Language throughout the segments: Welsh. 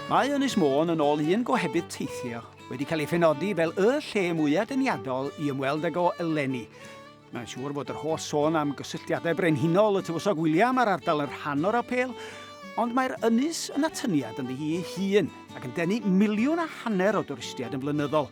Mae Ynys Môn, yn ôl un gohebydd teithio, wedi cael ei phenodi fel y lle mwyaf deniadol i ymweld ag o eleni. Mae'n siŵr fod yr holl sôn am gysylltiadau brenhinol y Tywysog William a'r ardal yn rhan o'r apêl, ond mae'r ynys yn atyniad ynddi hi ei hun ac yn denu miliwn a hanner o dwristiaid yn flynyddol.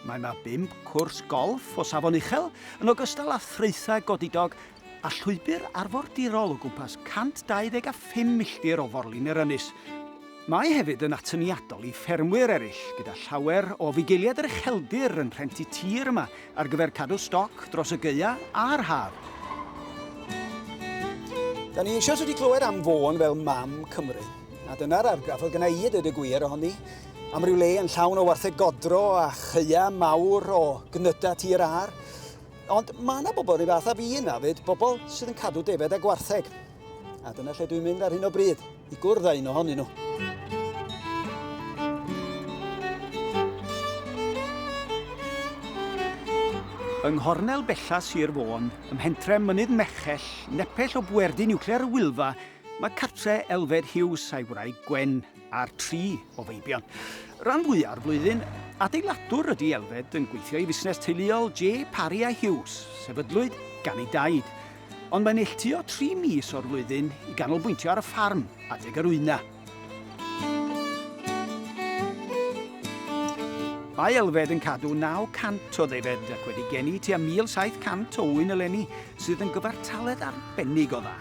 Mae yma bump cwrs golff o safon uchel, yn ogystal â thraethau godidog a llwybr arfordirol o gwmpas 125 milltir o forlin yr ynys. Mae hefyd yn atyniadol i ffermwyr eraill, gyda llawer o fugeiliaid yr ucheldir yn rhentu tir yma ar gyfer cadw stoc dros y gaea a'r haf. Da ni eisoes wedi clywed am Fôn fel mam Cymru, a dyna'r argraff oedd gyda i y dweud y gwir ohoni. Am ryw le yn llawn o wartheg godro a chaea mawr o gnydau tir ar, Ond mae yna bobl rhyw fath a fi yna fyd, bobl sydd yn cadw defaid a gwartheg. A dyna lle dwi'n mynd ar hyn o bryd, i gwrdd â un ohonyn nhw. Yng nghornel bella Sir Fôn, ym mhentre Mynydd Merchell, nepell o bwerdy niwclear y Wylfa, mae cartre Elfed Hughes a'i wraig Gwen, ar tri o feibion. Ran fwya'r flwyddyn, adeiladwr ydy Elfed yn gweithio i fusnes teuluol J. Parry a Hughes, sefydlwyd gan ei daid. Ond mae'n neilltuo tri mis o'r flwyddyn i ganolbwyntio ar y ffarm adeg yr wyna. Mae Elfed yn cadw 900 o ddefaid ac wedi geni tua 1,700 o ŵyn eleni, sydd yn gyfartaledd arbennig o dda.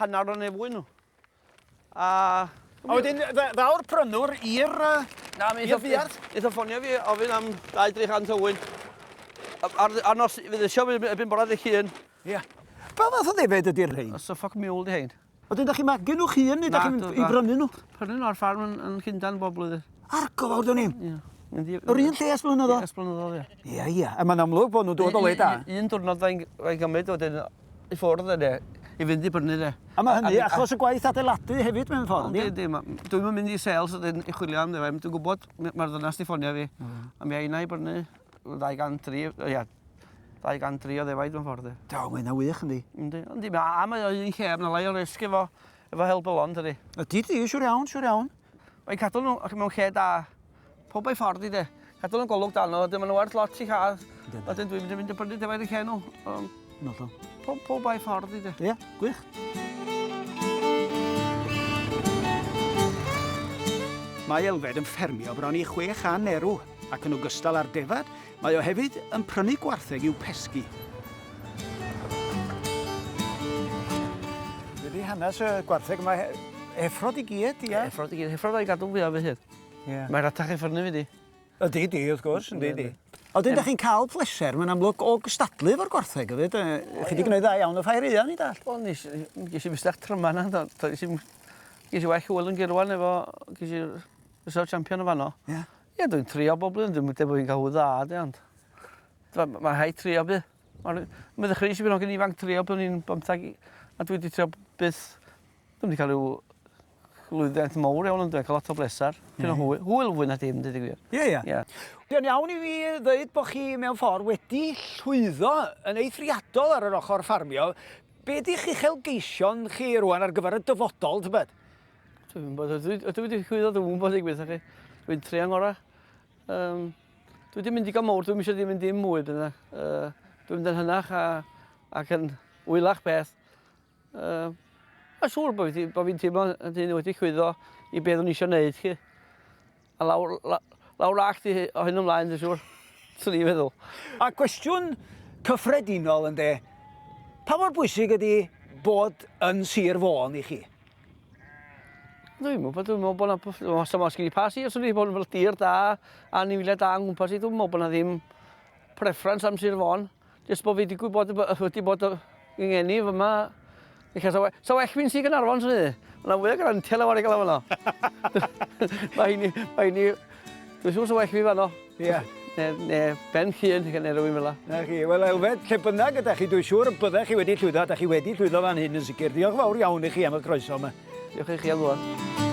Hanner o neu fwy nhw. A... A wedyn, ddaw'r prynwr i'r... Na, mi eitha ffonio fi ofyn am 2-300 o wyn. Ar nos, fydd eisiau fi ebyn bora dy hun. Ie. Pa fath o ddefed ydy'r rhain? Os o ffoc miwl dy hein. Oedden, da chi'n magu nhw'ch hun, neu da chi'n i brynu nhw? Prynu nhw ar ffarm yn, yn Llundan bob blwyddyn. Ar gofawr dyn ni? Ie. Yr un lle esblynyddol? Esblynyddol, ie. Ie, ie. A mae'n amlwg bod nhw'n dod o le da. Un diwrnod fe'n gymryd wedyn i ffwrdd yne i fynd i brynu de. A mae hynny achos y gwaith adeiladu hefyd mewn ffordd, ynddi? Yndi, yndi. Dwi'm yn mynd i sales wedyn i chwilio am ddim. Dwi'n gwybod, mae'r ddynas di ffonio fi. Mm. A mi a i brynu 203, ia, 203 o ddefaid mewn ffordd. Do, mae yna wych yndi. Yndi, yndi. A mae o'n un lle, mae lai o risg efo, efo helbylon, dydy. Ydy, di, siwr iawn, siwr iawn. Mae'n cadw nhw mewn lle da. Pob ei ffordd i de. Cadw yn golwg dan nhw, ydyn nhw'n werth lot i cael. Ydyn dwi'n mynd i fynd i brynu defaid i cael nhw. Um, Nodo. Pob, pob ei ffordd i de. Ie, yeah, gwych. Mae Elfed yn ffermio bron i 600 erw ac yn ogystal â'r defad, mae o hefyd yn prynu gwartheg i'w pesgi hanes y gwartheg yma, effrod i gyd, ia? Effrod i gyd, effrod o'i gadw fi am hyd. Ie. Mae ratach i ffwrdd na fi di. Ydi, di, wrth gwrs, yndi, di. Ond ydych chi'n cael pleser, mae'n amlwg, o gystadlu efo'r gwartheg hefyd. Chi wedi gwneud dda iawn o ffair eia, ni dall. O, nes, ges i fystach tryma na, do, do, ges i, ges i waith hwyl yn gyrwan efo, ges i fysaf champion o fanno. Ie. Yeah. Ie, dwi'n trio bob blwyddyn, dwi'n meddwl bod fi'n cael hwy dda, di, ond... Mae ma rhaid trio bydd. Mae'n meddwl chreu sy'n bynnag yn ifanc trio pan o'n i'n bymthag, a dwi wedi trio byth, dwi'n wedi cael rhyw Lwyddiant mowr iawn ynde, ca'l lot o bleser. Dipyn o hwy- hwyl fwy na dim deud y gwir. Ie ie. Ie. Mae'n iawn i fi ddeud bo' chi mewn ffor wedi llwyddo yn eithriadol ar yr ochor ffarmio. Be' 'di'ch uchelgeision chi rŵan ar gyfer y dyfodol tybed? Dwi'm yn gwbod ydw ydw i 'di llwyddo dwi'm yn gwbod deud gwir 'tha chi. Dwi'n trio ngora. Yym dwi 'di mynd digon mowr dwi'm isio 'di mynd dim mwy bydda yy dwi'n mynd yn hynach a ac yn wylach beth Uh, a siŵr bod fi'n fi teimlo yn dyn wedi chwyddo i beth o'n eisiau gwneud chi. A lawr, la, lawr ac ti o hyn ymlaen, dwi'n siŵr. Swn i'n feddwl. A cwestiwn cyffredinol yn de, pa mor bwysig ydy bod yn sir fôn i chi? Dwi'n meddwl, dwi'n meddwl bod yna, os yma sgyn i pa sir, swn i'n bod yn tir da, a ni'n wylio da yn gwmpas i, dwi'n meddwl bod yna ddim preference am sir fôn. Jyst bod fi wedi gwybod y bod wedi bod yng ngeni fy yma. Felly, sa, sa well fi'n sy'n Gynarfon, sy'n ni? Mae'n fwy o grantiau lawer i gael yma. Mae hynny, mae hynny... Dwi'n siŵr sa well fi fanno. Ie. Yeah. Ne, ne, ben llun, gan erw i'n fel Na chi, wel Elfed, lle bynnag ydych chi, dwi'n siŵr y byddech chi wedi llwyddo, ydych chi wedi llwyddo fan hyn yn sicr. Diolch fawr iawn i chi am y croeso yma. Diolch i chi am ddod.